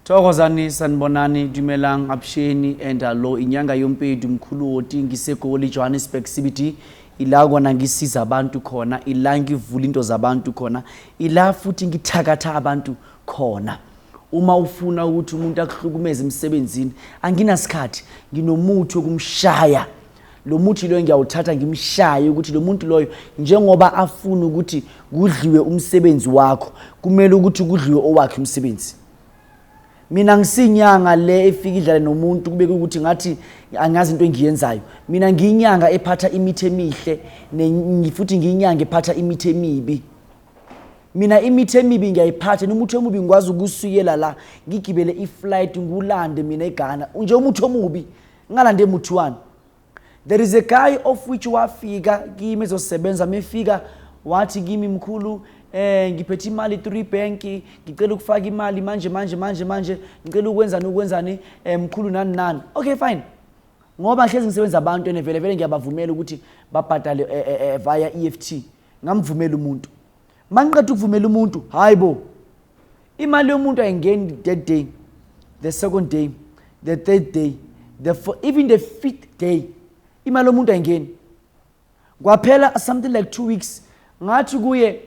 thokozani sanibonani dumelang abusheni and alo inyanga yompedu mkhulu woti ngisegoli johannesburg cbd ila kona ngisiza abantu khona ila ngivula into zabantu khona ila futhi ngithakatha abantu khona uma ufuna ukuthi umuntu akuhlukumeze emsebenzini anginasikhathi nginomuthi wokumshaya lo muthi loyo ngiyawuthatha ngimshaye ukuthi lo muntu loyo njengoba afuna ukuthi kudliwe umsebenzi wakho kumele ukuthi kudliwe owakhe umsebenzi mina ngisinyanga le efika idlale nomuntu kube ukuthi ngathi angazi into engiyenzayo mina ngiyinyanga ephatha imithi emihle futhi ngiyinyanga ephatha imithi emibi mina imithi emibi ngiyayiphatha nomuthi omubi ngikwazi ukusuyela la ngigibele iflight ngulande mina eghana nje umuthi omubi ngalande muthi wani there is a guy of which wafika kimi ezosebenza mefika wathi kimi mkhulu eh ngiphethe imali 3 bank ngicela ukufaka imali manje manje manje manje ngicela ukwenzani ukwenzani eh, mkhulu nani nani okay fine ngoba hlezi ngisebenza abantu ene vele vele ngiyabavumela ukuthi babhadale eh, eh, eh, via EFT ngamvumela umuntu mangiqeda ukuvumela umuntu hayi bo imali yomuntu ayingeni that day the second day the third day the four, even the fifth day imali yomuntu ayingeni kwaphela something like two weeks ngathi kuye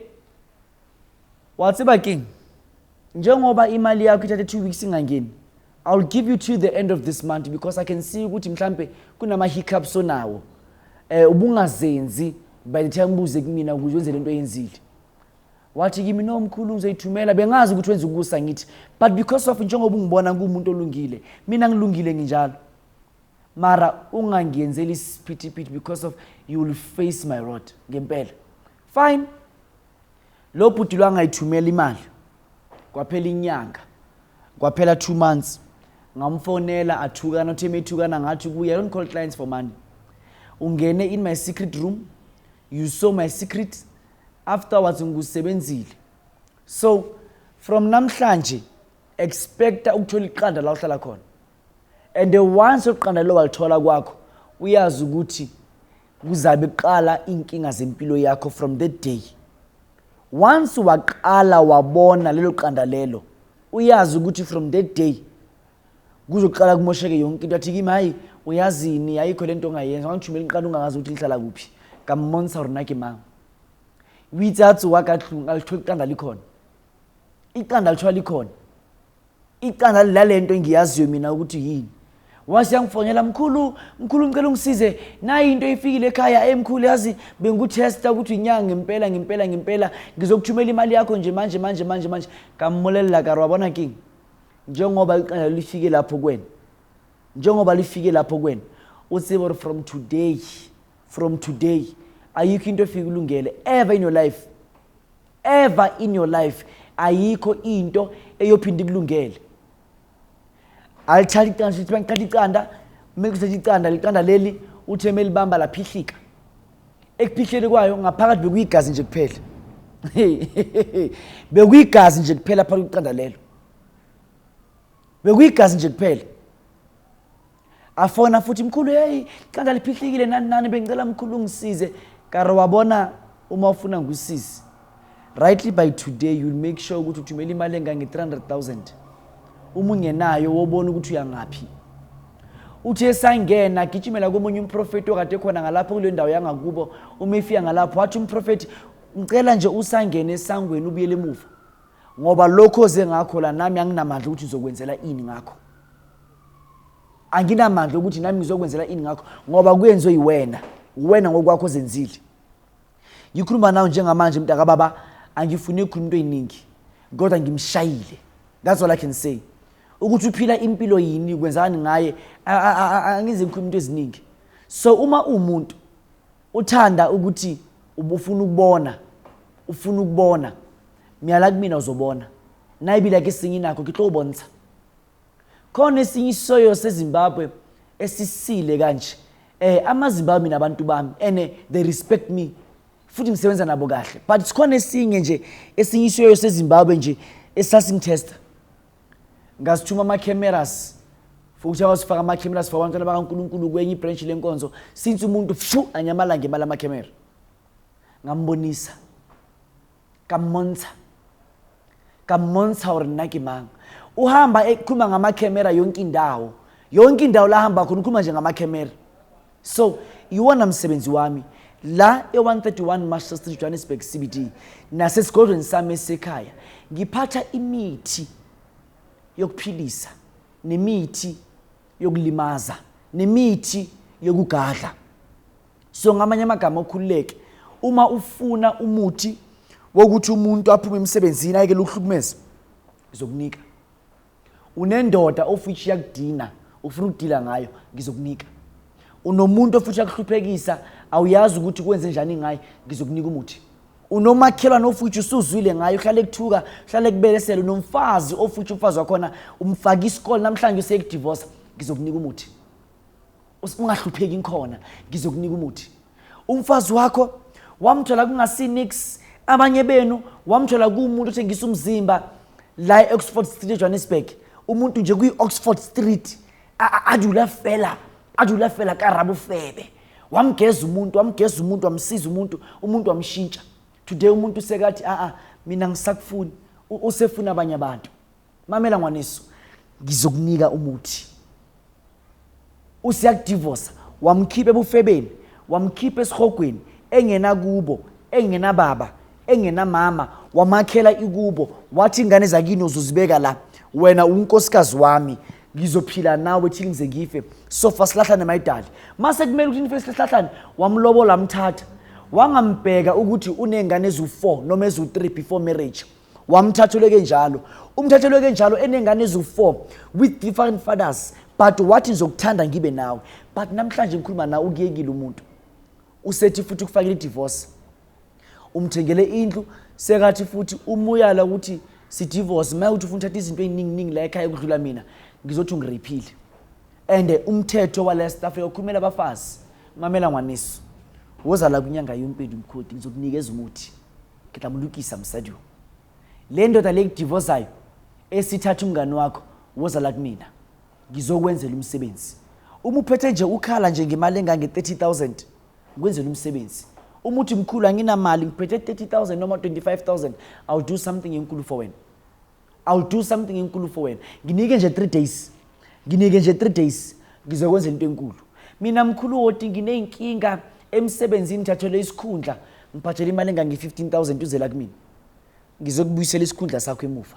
wathi baking njengoba imali yakho ithathe two weeks ingangeni I'll give you till the end of this month because I can see ukuthi mhlambe kunama hiccups onawo. Eh ubungazenzi by the time ubuze kumina ukuthi wenze lento oyenzile. Wathi kimi no mkhulu ngizoyithumela bengazi ukuthi wenza ukusa ngithi but because of njengoba ungibona kumuntu olungile mina ngilungile nginjalo. Mara ungangiyenzeli isiphithiphithi because of you will face my rod ngempela. Fine. Lo bhuti lwangayithumela imali. kwaphela inyanga kwaphela two months ngamfonela athukana uthe methukana ngathi kuye i don't call clients for money ungene in my secret room you saw my secret afterwards ngikusebenzile so from namhlanje expecta ukuthola iqanda la uhlala khona and once uqanda lo walithola kwakho uyazi ukuthi kuzabe kuqala iy'nkinga zempilo yakho from that day once waqala wabona lelo qanda lelo uyazi ukuthi from that day kuzoqala kumosheke yonke into athi kimi hayi uyazini ayikho le nto ongayenza wangithumela iqanda ungangazi ukuthi lihlala kuphi kamonisa rona ke mama withatsi wakatlung alithiwa iqanda likhona iqanda lithiwa likhona icala lalento engiyaziyo mina ukuthi yini wase yangifonela mkhulu mkhulu ngicela ungisize nayi into ifikile ekhaya emkhulu eh, yazi bengikuthesta ukuthi inyanga ngempela ngempela ngempela ngizokuthumela imali yakho nje manje manje manje manje kamulelela karo wabona king njengoba iqala lifike lapho kwena njengoba lifike lapho kwena utsibor from today from today ayikho into efike ulungele ever in your life ever in your life ayikho into eyophinda ikulungele alithatha iqanda sithi bangithatha iqanda kumele kusethe iqanda liqanda leli uthe melibamba laphihlika ekuphihleni kwayo ngaphakathi bekuyigazi nje kuphela bekuyigazi nje kuphela phakathi kweqanda lelo bekuyigazi nje kuphela afona futhi mkhulu heyi qanda liphihlekile nani nani bengicela mkhulu ungisize kare wabona uma ufuna ngusisi rightly by today you'll make sure ukuthi uthumela imali engange-300000 uma ungenayo wobona ukuthi uyangaphi uthi esangena agijimela komunye umprofethi okade khona ngalapho kule ndawo yangakubo uma efika ngalapho wathi umprofethi ngicela nje usangene esangweni ubuyele emuva ngoba lokho oze ngakho la nami anginamandla ukuthi ngizokwenzela ini ngakho anginamandla ukuthi nami ngizokwenzela ini ngakho ngoba kuyenziwe yiwena wena ngokwakho ozenzile ngikhuluma nawe njengamanje mntaka baba angifuni ukukhuluma into eyiningi kodwa ngimshayile that's all i can say ukuthi uphila impilo yini kwenzani ngaye angize ngikhuluma into eziningi so uma umuntu uthanda ukuthi ubufuna ukubona ufuna ukubona myala kumina uzobona nayibila ke singinakho ke tlo bontsha Khona esinye isoyo seZimbabwe esisile kanje. Eh amaZimbabwe mina abantu bami and eh, they respect me futhi ngisebenza nabo kahle. But sikhona esinye nje esinye isoyo seZimbabwe nje esasingitesta. Ngasithuma ama cameras futhi awasifaka ama cameras for abantwana bakaNkuluNkulu kwenye ibranch lenkonzo since umuntu fu anyamalanga imali ama camera. Ngambonisa ka mmontsha ka mmontsha hore nna ke mang uhamba ekhuluma ngamakhemera yonke indawo yonke indawo la hamba khona ukhuluma nje ngamakhemera so iwona msebenzi wami la e-131 master street johannesburg cbd nasesigodlweni sami esisekhaya ngiphatha imithi yokuphilisa nemithi yokulimaza nemithi yokugadla so ngamanye amagama okhululeke uma ufuna umuthi wokuthi umuntu aphume emsebenzini ayekele ukuhlukumeza ngizokunika unendoda ofithi yakudina ufuna ukudila ngayo ngizokunika unomuntu ofithi yakuhluphekisa awuyazi ukuthi kwenze njani ngaye ngizokunika umuthi unomakhelwane ofuthi usuzwile ngayo uhlale kuthuka uhlale kubelesela unomfazi ofuthi umfazi wakhona umfake isikole namhlanje usekudivosa ngizokunika umuthi ungahlupheki inkhona ngizokunika umuthi umfazi wakho wamthola kungasinix abanye benu wamthola kuwumuntu othengisa umzimba la e-oxford street ejohannesburg umuntu nje kwi-oxford street adula fela adula fela karabufebe wamgeza umuntu wamgeza umuntu wamsiza umuntu umuntu wamshintsha today umuntu usekathi a ah, a ah, mina ngisakufuni usefuna abanye abantu mamela ngwanesu ngizokunika umuthi usiyakudivosa wamkhipha ebufebeni wamkhipha esihogweni engena kubo engena baba engenamama wamakhela ikubo wathi ingane zakini uzozibeka la wena unkosikazi wami ngizophila nawe thile ngize ngife sofa sihlahlane mayidali mase kumele ukuthi nife sihlahlane wamlobola mthatha wangambheka ukuthi unengane ezu-4 noma ezu-3 before marriage wamthathelwe kenjalo umthathelwe kenjalo enengane ezu-4 with different fathers but wathi ngizokuthanda ngibe nawe but namhlanje ngikhuluma nawe ukuyekile umuntu usethi futhi ukufakile idivorce umthengele indlu sekathi futhi umuyala ukuthi sidivorce maye ukuthi ufuna uthatha izinto ey'ninginingi la ekhaya ukudlula mina ngizothi ungiriphile and umthetho wala staff yokhulumela abafazi mamela ngwaniso woza la kwinyanga yompindu mkhodi ngizokunikeza umuthi ngidlamulukisa msadiwo le ndoda le kudivozayo esithatha umngane wakho woza la kumina ngizokwenzela umsebenzi uma uphethe nje ukhala nje ngemali engange-30 000 Ngwenzela umsebenzi. Uma uthi mkhulu anginamali ngiphethe 30000 noma 25000 I'll do something enkulu for wena. I'll do something enkulu for wena. Nginike nje 3 days. Nginike nje 3 days ngizokwenza into enkulu. Mina mkhulu woti ngineyinkinga emsebenzini ngithathelwe isikhundla ngiphathele imali engange 15000 uzela kumina. Ngizokubuyisela isikhundla sakho emuva.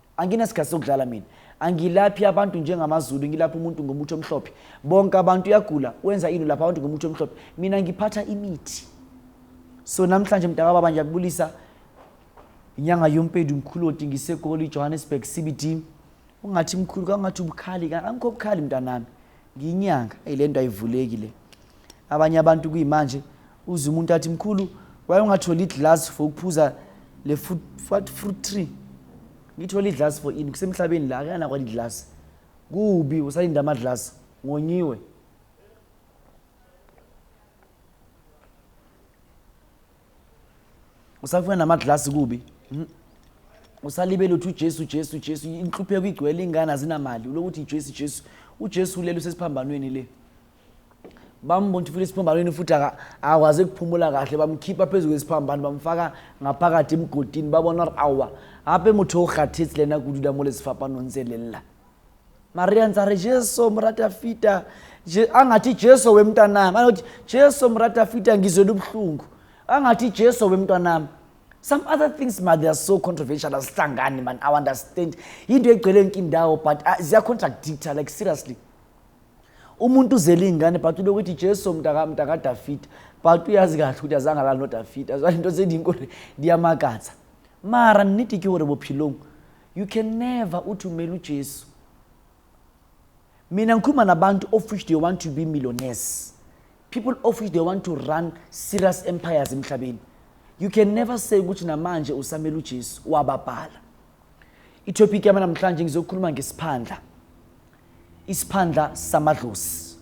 anginasikhathi sokudlala mina angilaphi abantu njengamazulu ngilapha umuntu ngomuthi omhlophe bonke abantu uyagula wenza ini lapha abantu ngomuthi omhlophe mina ngiphatha imithi so namhlanje mntaka baba ngiyakubulisa inyanga yompedu mkhulu oti ngisegoli johannesburg cbd ungathi mkhulu kangathi ubukhali angikho bukhali mntanami Ngiyinyanga, eyi lento ayivuleki le. Abanye abantu kuyimanje uze umuntu athi mkhulu waye ungatholi iglass for ukuphuza le fruit, what fruit tree. Ngithole iglass for ini kusemhlabeni la akana kwali glass. Kubi usalinda ama glass ngonyiwe. usafuna namaglasi kubi hmm? usalibele uthi ujesu ujesu ujesu inhlupheko igcwele ingane azinamali uloku uthi ijesu ijesu ujesu ulele usesiphambanweni le bambona futhi esiphambanweni futhi akwazi ukuphumula kahle bamkhipha phezu kwesiphambano bamfaka ngaphakathi emgodini babona awa hape motho o kgathetsi lena kududa mo le sefapanong tse lella maria ndza ri jesu murata fita angathi jesu wemntanami anokuthi jesu murata fita ngizwela ubuhlungu angathi jesu wemntwanami some other things ma they are so controversial asihlangani man i understand yinto egcwele yonke indawo but uh, ziyacontracdicta like seriously umuntu uzele iy'ngane but ulokuthi jesu mntakadafida but uyazi kahle ukuthi azange lalo nodafida zwainto zendiyinkosi ndiyamakatha mara nidiki gore bophilong You can never uthi umele uJesu. Mina ngikhuluma nabantu of which they want to be millionaires. People of which they want to run serious empires emhlabeni. You can never say ukuthi namanje usamele uJesu wababhala. Itopic yami namhlanje ngizokhuluma ngesiphandla. Isiphandla samadlozi.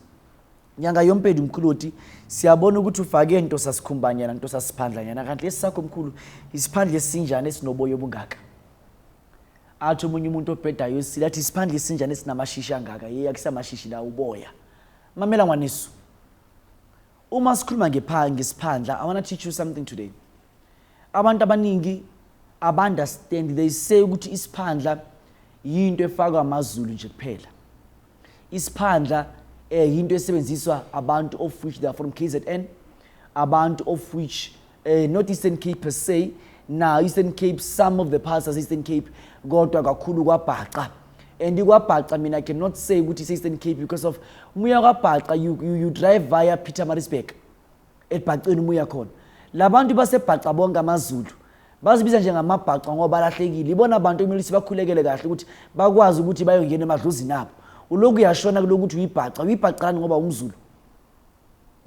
Nyanga yompedi mkhulu uthi siyabona ukuthi ufake into sasikhumbanyana into sasiphandlanyana kanti lesakho mkhulu isiphandla esinjani esinoboya obungaka. athi omunye umuntu obhedayo usile athi isiphandla isinjani esinamashishi angaka ye akusamashishi la uboya mamela ngwaniso uma sikhuluma ngesiphandla i want to teach you something today abantu abaningi abaunderstand they say ukuthi isiphandla yinto efakwa amazulu nje kuphela isiphandla eh yinto esebenziswa abantu of which they are from KZN abantu of which eh not Eastern Cape per se na Eastern Cape some of the parts as Eastern Cape kodwa kakhulu kwabhaca and ikwabhaca mina I cannot say ukuthi Eastern Cape because of umuya kwabhaca you, you, you drive via Peter Marisburg ebhaceni uma uya khona labantu basebhaca bonke amazulu bazibiza njengamabhaca ngoba balahlekile ibona bantu ekumele ukuthi bakhulekele kahle ukuthi bakwazi ukuthi bayongena emadlozini abo uloku uyashona kulokuthi uyibhaca uyibhacani ngoba umzulu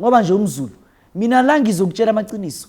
ngoba nje umzulu mina la ngizokutshela amaqiniso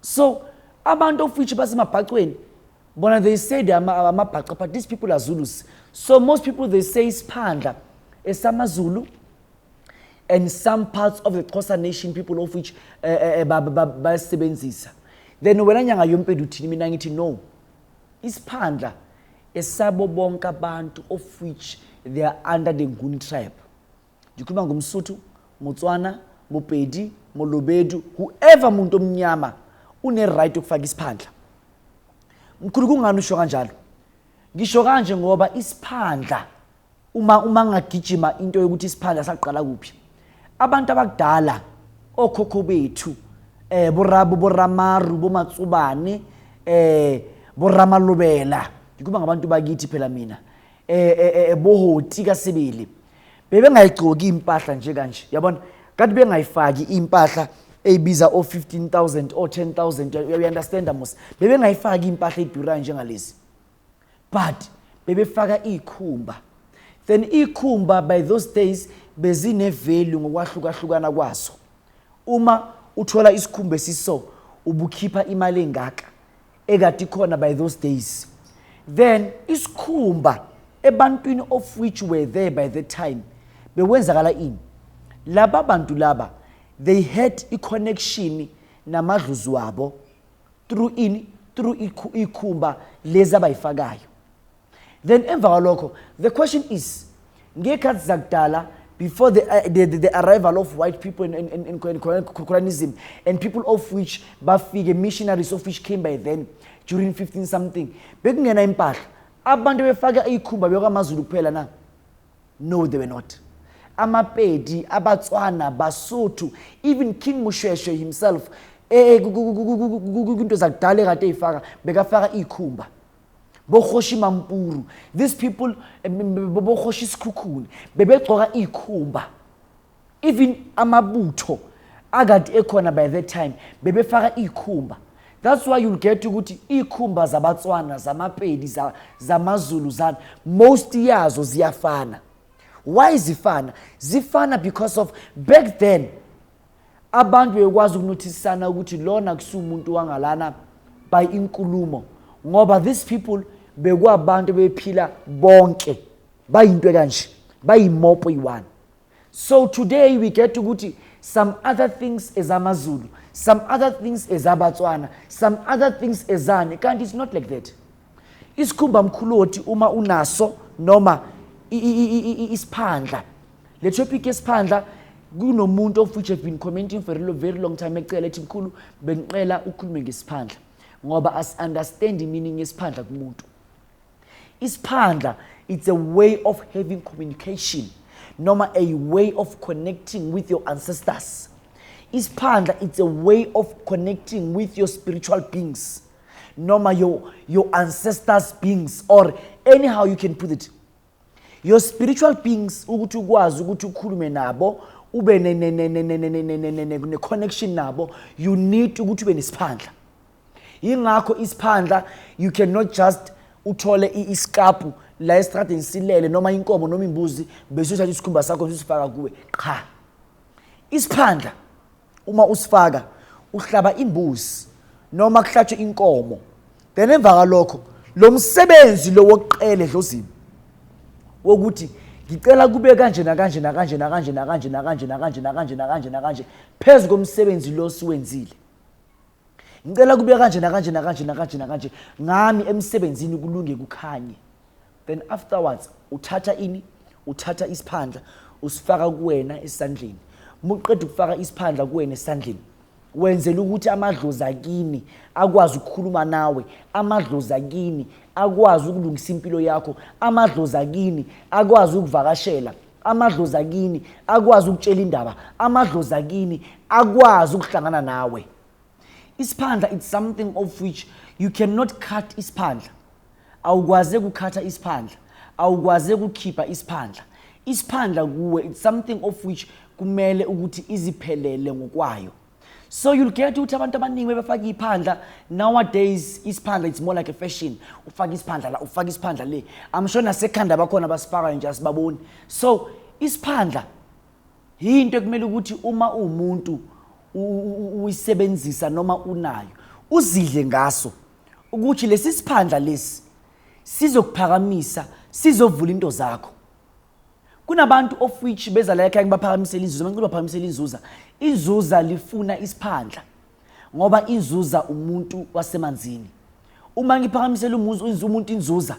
so abantu of which basemabhacweni bona they say they amabhaca but these people are zulus so most people they say isiphandla esamazulu and some parts of the xhosa nation people of which eh, eh, eh, bayasebenzisa then wena nyanga yompedu uthini mina ngithi no isiphandla esabo bonke abantu of which they are under the nguni tribe Ngikhuluma ngomsuthu, Motswana, Mopedi, Molobedu, whoever muntu omnyama une right yokufaka isiphandla. Mkhulu kungani usho kanjalo? Ngisho kanje ngoba isiphandla uma uma ngagijima into yokuthi isiphandla saqala kuphi? Abantu abakudala okhokho bethu eh borabo boramaru bomatsubane eh boramalobela ngikuba ngabantu bakithi phela mina eh, eh, eh bohoti kasibili bebengayigcoki impahla nje kanje yabona kanti bengayifaki impahla eyibiza o 15000 o 10000 you understand mos bebengayifaki impahla edurayo njengalezi but bebefaka ikhumba then ikhumba by those days bezine value ngokwahlukahlukana kwazo uma uthola isikhumba esiso ubukhipha imali engaka ekade ikhona by those days then isikhumba ebantwini of which were there by the time bekwenzakala ini laba bantu laba they had i-connection namadluzi wabo through ini through ikhumba lezi abayifakayo then emva kwalokho the question is ngekhathi zakudala before the, uh, the, the, the arrival of white people in, in, in, in colonialism and people of which bafike missionaries of which came by then during 15 something bekungena impahla abantu befake ikhumba bekwamazulu kuphela na no they were not amapedi abatswana basotho even king mushweshwe himself eh, eh, kwinto zakudala ekade eyifaka bekafaka ikhumba bokhoshi mampuru these people eh, bokhoshi isikhukhuni bebegcoka ikhumba even amabutho akade ekhona by that time bebefaka ikhumba that's why you'll get ukuthi ikhumba zabatswana zamapedi zamazulu zani most yazo ziyafana why zifana zifana because of back then Abantu beyokwazi ukunothisisana ukuthi lona kusumuntu wangalana by inkulumo ngoba these people bekwabantu bephila bonke bayinto kanje bayimopo iwani so today we get ukuthi some other things ezamazulu some other things ezabatswana some other things ezani kanti it's not like that isikhumba mkhulu othi uma unaso noma isiphandla Le topic yesiphandla kunomuntu of which have been commenting for a very long time ecela ethi mkhulu bengiqela ukhulume ngesiphandla ngoba as understand meaning yesiphandla kumuntu isiphandla it's a way of having communication noma a way of connecting with your ancestors isiphandla it's a way of connecting with your spiritual beings noma your, your ancestors beings or anyhow you can put it your spiritual beings ukuthi ukwazi ukuthi ukhulume nabo ube ne-connection nabo you need ukuthi ube nesiphandla yingakho isiphandla you cannot just uthole isikapu la esitradeni silele noma inkomo noma imbuzi bese uthatha isikhumba sakho sisifaka kuwe qha isiphandla Uma usifaka uhlaba imbuzi noma kuhlatshwe inkomo then emva kalokho lo msebenzi lo wokuqela edlozini wokuthi ngicela kube kanje nakanje nakanje nakanje nakanje nakanje nakanje nakanje nakanje nakanje phezu komsebenzi lo siwenzile ngicela kube kanje nakanje nakanje nakanje nakanje ngami emsebenzini kulunge kukhanye then afterwards uthatha ini uthatha isiphandla usifaka kuwena esandleni muqeda ukufaka isiphandla kuwena esandleni wenzela ukuthi amadlozi akini akwazi ukukhuluma nawe amadlozi akini akwazi ukulungisa impilo yakho amadlozi akini akwazi ukuvakashela amadlozi akini akwazi ukutshela indaba amadlozi akini akwazi ukuhlangana nawe isiphandla it's something of which you cannot cut isiphandla awukwaze kukhatha isiphandla awukwaze kukhipha isiphandla isiphandla kuwe it's something of which kumele ukuthi iziphelele ngokwayo so you'll get ukuthi abantu abaningi bebefaka iphandla nowadays isiphandla it's more like a fashion ufaka isiphandla la ufaka isiphandla le i'm sure nasekhanda bakhona basifakayo nje asibaboni so isiphandla Yinto ekumele ukuthi uma uwumuntu uyisebenzisa noma unayo uzidle ngaso ukuthi lesi siphandla lesi sizokuphakamisa sizovula into zakho kunabantu of which beza la ekhaya ngibaphakamisela inzuza uma ngicela baphakamisela inzuza inzuza lifuna isiphandla ngoba inzuza umuntu wasemanzini uma ngiphakamisela umuntu inzuza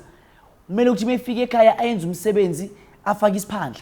kumele ukuthi uma efika ekhaya ayenze umsebenzi afake isiphandla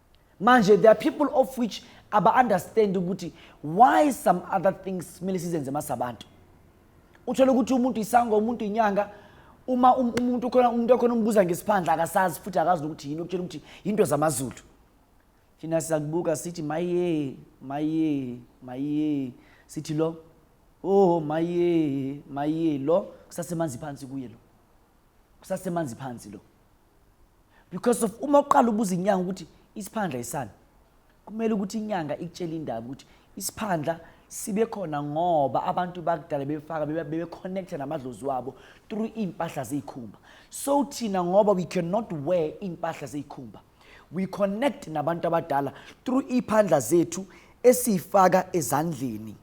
manje there are people of which aba-understand ukuthi why some other things kumele sizenze masabantu uthole ukuthi umuntu isango umuntu inyanga uma um, umuntu khona umuntu okhona umbuza ngesiphandla akasazi futhi akazi nokuthi yini okutshela ukuthi yinto zamazulu thina siyakubuka sithi maye maye maye sithi lo oh maye maye lo kusasemanzi phansi kuye lo kusasemanzi phansi lo because of uma uqala ubuza inyanga ukuthi isiphandla isani kumele ukuthi inyanga ikutshele indaba ukuthi isiphandla sibe khona ngoba abantu bakudala befaka bebeconnecta namadlozi wabo through iy'mpahla zey'khumba so thina ngoba we cannot wear iy'mpahla zey'khumba we connect nabantu abadala through iy'phandla zethu esiyifaka ezandleni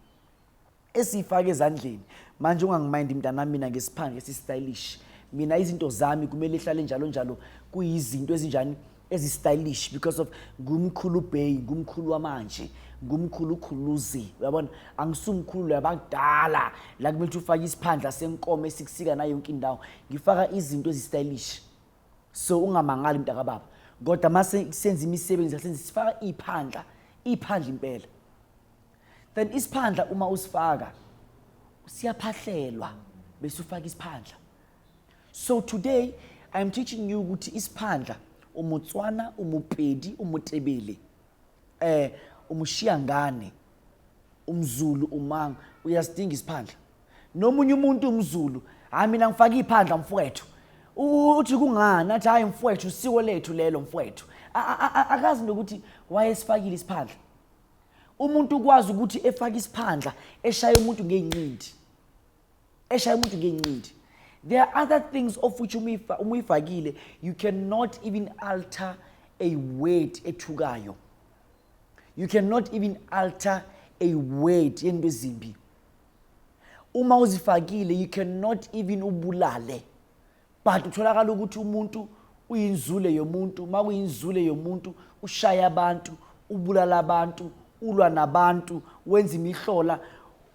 esiyifake ezandleni manje ungangimayindi mntanami mina ngesiphange esistylish mina izinto zami kumele ihlale njalo njalo kuyizinto ezinjani ezistylish because of ngumkhulu bay ngumkhulu wamanje ngumkhulu ukhuluzi uyabona angisumkhulu yabakudala la kumele ukuthi ufake isiphandla senkomo esikusika nayo yonke indawo ngifaka izinto ezistylish so ungamangali mntakababa kodwa mase senza imisebenzi senza sifaka iphandla iphandla impela then isiphandla uma usifaka siyaphahlelwa bese ufaka isiphandla so today i am teaching you ukuthi isiphandla umutswana umupedi umutebele eh umushiyangane umzulu umanga uyasidinga isiphandla nomunye umuntu umzulu hayi mina ngifaka iphandla mfowethu uthi kungani athi hayi mfowethu usiko lethu lelo mfowethu akazi nokuthi wayesifakile isiphandla umuntu ukwazi ukuthi efake isiphandla eshaye umuntu ngeyinqindi eshaye umuntu ngeyinqindi there are other things of which uma uyifakile you cannot even alter a word ethukayo you cannot even alter a word yento ezimbi uma uzifakile you cannot even ubulale but kutholakala ukuthi umuntu uyinzule yomuntu uma kuyinzule yomuntu ushaya abantu ubulala abantu ulwa nabantu wenza imihlola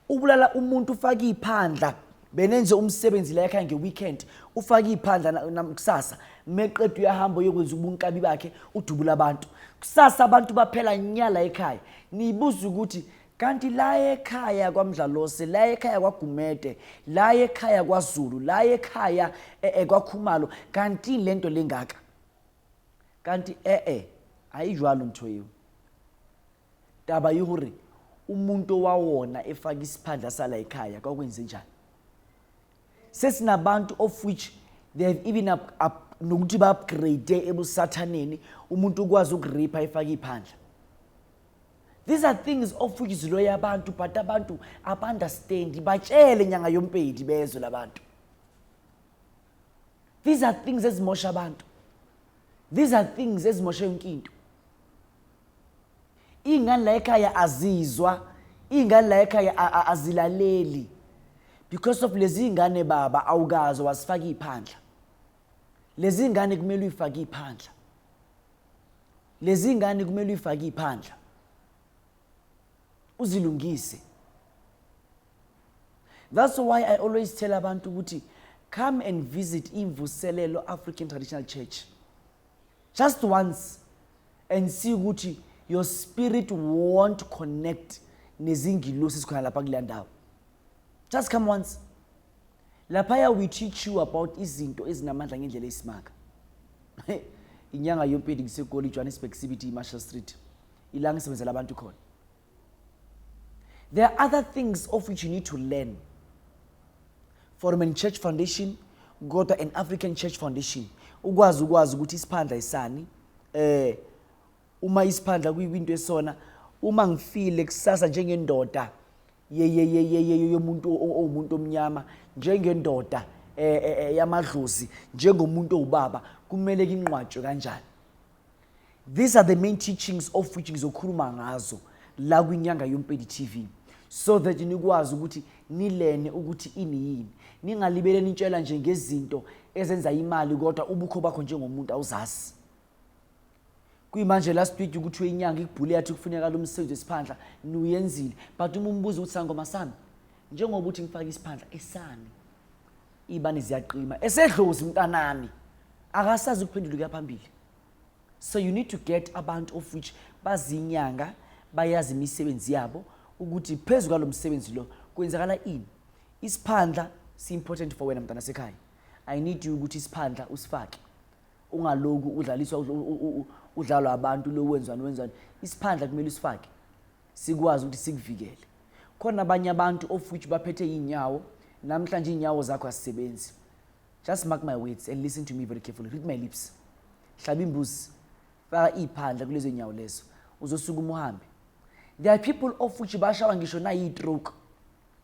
ubulala umuntu ufake iphandla benenze umsebenzi la ekhaya ngeweekend ufake iphandla nakusasa meqeda uyahamba uyokwenza ubunkabi bakhe udubula abantu kusasa abantu baphela nyala ekhaya niyibuza ukuthi kanti la ekhaya kwaMdlalosi la ekhaya kwaGumede la ekhaya kwaZulu la ekhaya eh, eh, kwaKhumalo kanti lento lengaka kanti eh eh ayijwalo ntho yeo taba yi hore umuntu owawona efaka isiphandla sala ekhaya kwakwenze njani sesinabantu of which they have even up, up, nokuthi ba-upgrade ebusathaneni umuntu ukwazi ukuripa efake iphandla These are things ofuyizilweyo abantu but abantu abandastendi batshele nyanga yompedi bezwe labantu. These are things ezimosha abantu. These are things ezimosha yonke into. Ingane la ekhaya azizwa, ingane la ekhaya azilaleli. Because of lezi ingane baba awukazo wasifaka iphandla. lezi ngane kumele uyifake iphandla lezi ngane kumele uyifake iphandla uzilungise that's why i always tell abantu ukuthi come and visit imvuselelo african traditional church just once and see ukuthi your spirit won't connect nezingilosi sikhona lapha kule ndawo just come once laphaya we teach you about izinto ezinamandla ngendlela eyisimanga inyanga yompedi ngisegoli ijohannesburg cbt imarshall street ilanga isebenzela abantu khona there are other things of which you need to learn foreman church foundation kodwa an african church foundation ukwazi ukwazi ukuthi isiphandla isani eh uma isiphandla kuyinto esona uma ngifile kusasa njengendoda yeyeyeyeye yomuntu owumuntu omnyama njengendoda e, e, e, yamadlozi njengomuntu owubaba kumele kinqwatshwe kanjani these are the main teachings of which ngizokhuluma ngazo la kwinyanga yompedi tv so that nikwazi ukuthi nilene ukuthi ini yini ningalibele nitshela nje ngezinto ezenza imali kodwa ubukho bakho njengomuntu awuzazi kuyimanje last week ukuthi wenyanga ikubhule yathi kufuneka lo msebenzi wesiphandla niwuyenzile but uma umbuza ukuthi sangoma sami njengoba uthi ngifake isiphandla esami ibani ziyaqima esedlozi mntanami akasazi ukuphendula kuya phambili so you need to get abantu of which bazinyanga bayazi imisebenzi yabo ukuthi phezu kwalo msebenzi lo kwenzakala ini isiphandla si-important for wena mntana sekhaya i need you ukuthi isiphandla usifake ungaloku udlaliswa udlalwa abantu lo wenzani wenzani isiphandla kumele usifake sikwazi ukuthi sikuvikele khona abanye abantu of which baphethe iy'nyawo namhlanje iy'nyawo zakho azisebenzi just mark my words and listen to me very carefully read my lips hlaba imbuzi faka iy'phandla kulezo y'nyawo lezo uzosukuma uhambe there are people of which bashawa ngisho nayiyi-troke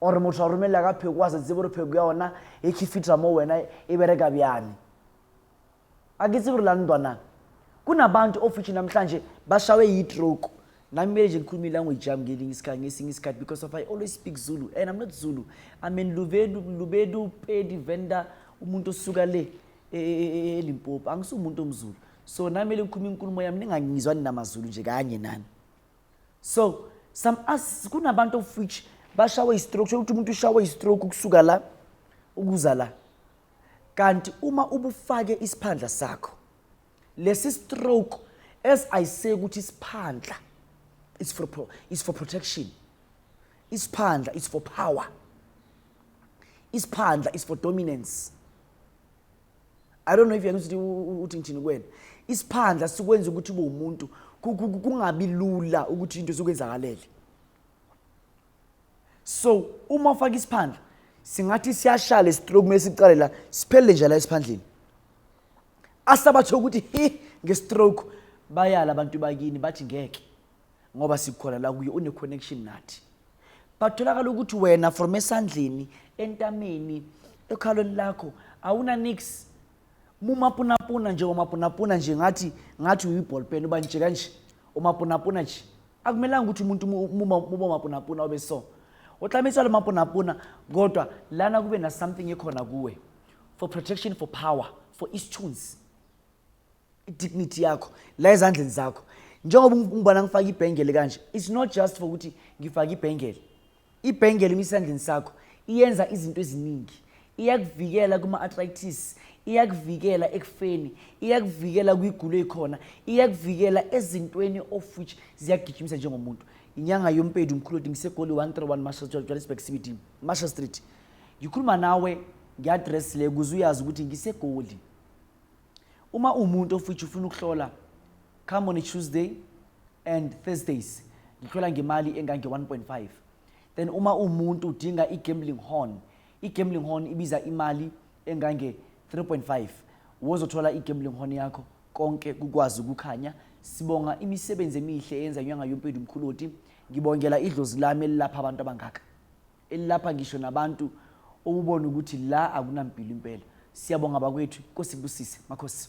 gore motho a romelela ka pheko a se tsebe gore pheko ya ona e khifitra mo wena e bereka bjani a ke tsebe gore la ntwana kunabantu ofithi namhlanje bashawe yitroke nami kumele nje ngikhulume ilanguage yami ngelinye isikhathi ngesinye isikhathi because of i always speak zulu and i'm not zulu i mean lubedu lubedu pedi venda umuntu osuka le e, e, e, elimpopo angisumuntu omzulu so nami kumele ngikhulume inkulumo yami ningangizwa ninamazulu nje kanye nani so some us kunabantu of which bashawe istroke sho ukuthi umuntu ushawe istroke ukusuka la ukuza la kanti uma ubufake isiphandla sakho lesi stroke as i say ukuthi isiphandla is for pro, is for protection isiphandla is for power isiphandla is for dominance i don't know if yakuthi uthi ngithini kuwena isiphandla sikwenza ukuthi ube umuntu kungabi lula ukuthi into zokwenzakalele so uma ufaka isiphandla singathi siyashala isitroke uma siqale la siphelele nje la esiphandleni asabathe ukuthi hi ngestroke bayala abantu bakini bathi ngeke ngoba sikhona la kuye une connection nathi batholakala ukuthi wena from esandleni entameni ekhalweni lakho awuna nix mumapunapuna nje umapunapuna nje ngathi ngathi uyiball pen uba nje kanje umapunapuna nje akumelanga ukuthi umuntu muba mapunapuna obe so utlamiswa le mapunapuna kodwa lana kube na something ekhona kuwe for protection for power for istunes idignity yakho la ezandleni zakho njengoba ngibona ngifaka ibhengele kanje it's not just for ukuthi ngifake ibhengele ibhengele emisandleni sakho iyenza izinto eziningi iyakuvikela kuma-arthritis iyakuvikela ekufeni iyakuvikela kwigulo ekhona iyakuvikela ezintweni of which ziyagijimisa njengomuntu inyanga yompedi umkhulu odi ngisegoli 131 marshal johannesburg cbd marshal street ngikhuluma nawe ngiadress le kuze uyazi ukuthi ngisegoli Uma uwumuntu of which ufuna ukuhlola come on a Tuesday and Thursdays ngihlola ngemali engange 1.5 then uma umuntu udinga i-gambling horn i-gambling horn ibiza imali engange 3.5 wozothola i-gambling horn yakho konke kukwazi ukukhanya sibonga imisebenzi emihle eyenza nyanga yompedi mkhuloti ngibongela idlozi lami elilapha abantu abangaka elilapha ngisho nabantu ubone ukuthi la akunampilo impela siyabonga bakwethu nkosi busise makhosi